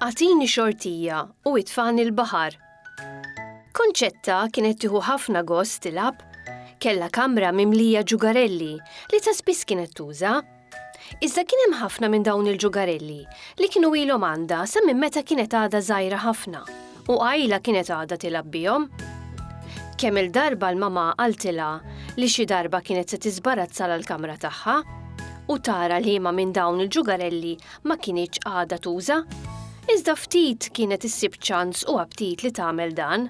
Atini xortija u itfan il-bahar. Konċetta kienet tiħu ħafna gost tilab, kella kamra mimlija ġugarelli li ta' spiss kienet tuża Iżda kien hemm ħafna minn dawn il-ġugarelli li kienu ilhom għandha sa minn meta kienet għadha żgħira ħafna u qajla kienet għadha tilgħab bihom. Kemm il-darba l-mama qaltilha li xi darba kienet se tiżbarazza l-kamra tagħha u tara liema minn dawn il-ġugarelli ma kinitx għadha tuża. Iżda ftit kienet issib ċans u aptit li tagħmel dan.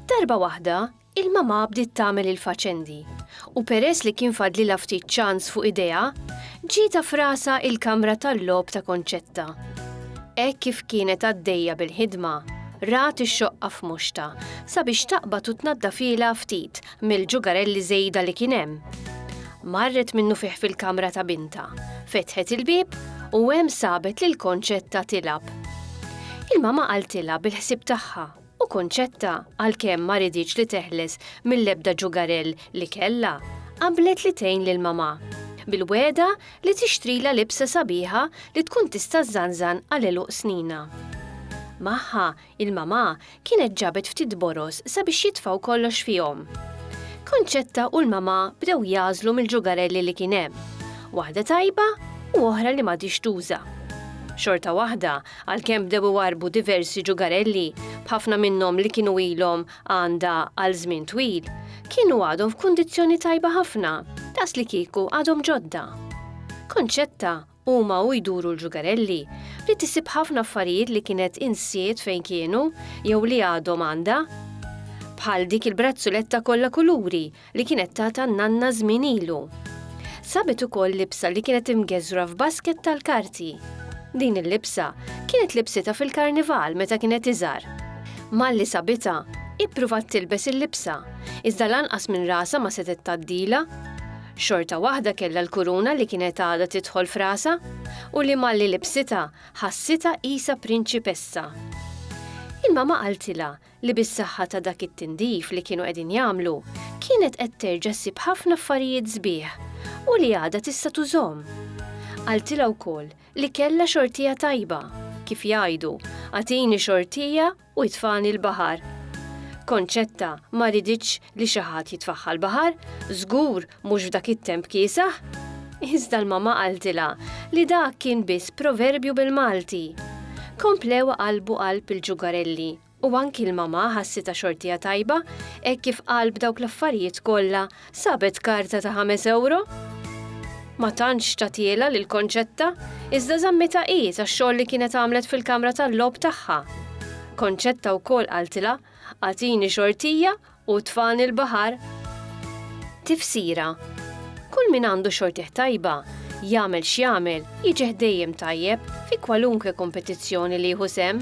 Darba waħda, Il-mamà bdiet tagħmel il-faċendi, u peress li kien fadlilha ftit ċans fuq idejha, ġietha f'rasha il-kamra tal-logħob ta' Concetta. Hekk kif kienet għaddejja bil-ħidma, rat ix-xoqqa f'muxtha sabiex taqbad u tnaddafilha ftit mill-ġugarelli żejda li kien hemm. Marret minnufih fil-kamra ta' bintha, fetħet il-bieb u hemm sabet lil Concetta tilgħab. Il-mamà qaltilha bil-ħsieb tagħha. u Concetta, għalkemm ma riditx li teħles mill-ebda ġugarell li kellha, qablet li tgħin lil mamà, bil-wegħda li tixtrilha libsa sabiħa li tkun tista' żżanżan għal għeluq snina. Magħha, il-mamà kienet ġabet ftit boroż sabiex jitfgħu kollox fihom. Concetta u l-mamà bdew jagħżlu mill-ġugarelli li kien hemm, waħda tajba u oħra li m'għadhiex tuża. Xorta waħda, Għalkemm bdew iwarrbu diversi ġugarelli, b'ħafna minnhom li kienu ilhom għandha għal żmien twil, kienu għadhom f'kundizzjoni tajba ħafna, daqslikieku għadhom ġodda. Concetta, huma u jduru l-ġugarelli, bdiet issib ħafna affarijiet li kienet insiet fejn kienu jew li għadhom għandha. Bħal dik il-brazzuletta kollha kuluri li kienet tata n-nanna żmien ilu. Sabet ukoll libsa li kienet imgeżwra f'basket tal-karti. Din il-libsa kienet libsitha fil-karnival meta kienet iżgħar. Malli sabitha, ippruvat tilbes il-libsa, iżda lanqas minn rasha ma setgħet tgħaddilha. Xorta waħda kellha l-kuruna li kienet għadha tidħol f'rasha u li malli libsitha ħassitha qisha prinċipessa. Il-mamà qaltilha li bis-saħħa ta' dak it-tindif li kienu qegħdin jagħmlu, kienet qed terġa' ssib ħafna affarijiet sbieħ u li għadha tista' tużhom. Qaltilha wkoll li kellha xortija tajba, kif jgħidu, agħtini xortija u itfagħni l-baħar. Concetta ma riditx li xi ħadd jitfagħha l-baħar, żgur mhux f'dak it-temp kiesaħ, iżda l-mamma qaltilha li dak kien biss proverbju bil-Malti. Komplew qalbu qalb il-ġugarelli u anki l-mamma ħassitha xortija tajba hekk kif qalb dawk l-affarijiet kollha sabet karta ta' ħames ewro. Ma tantx tagħtielha lil Konċetta, iżda żammitha hi tax-xogħol li kienet għamlet fil-kamra tal-logħob tagħha. Konċetta wkoll qaltilha, agħtini xortija U tfani l-baħar? Tifsira, Kull min għandu xortih tajba, jagħmel x'jagħmel, jiġih dejjem tajjeb fi kwalunkwe kompetizzjoni li jieħu sehem.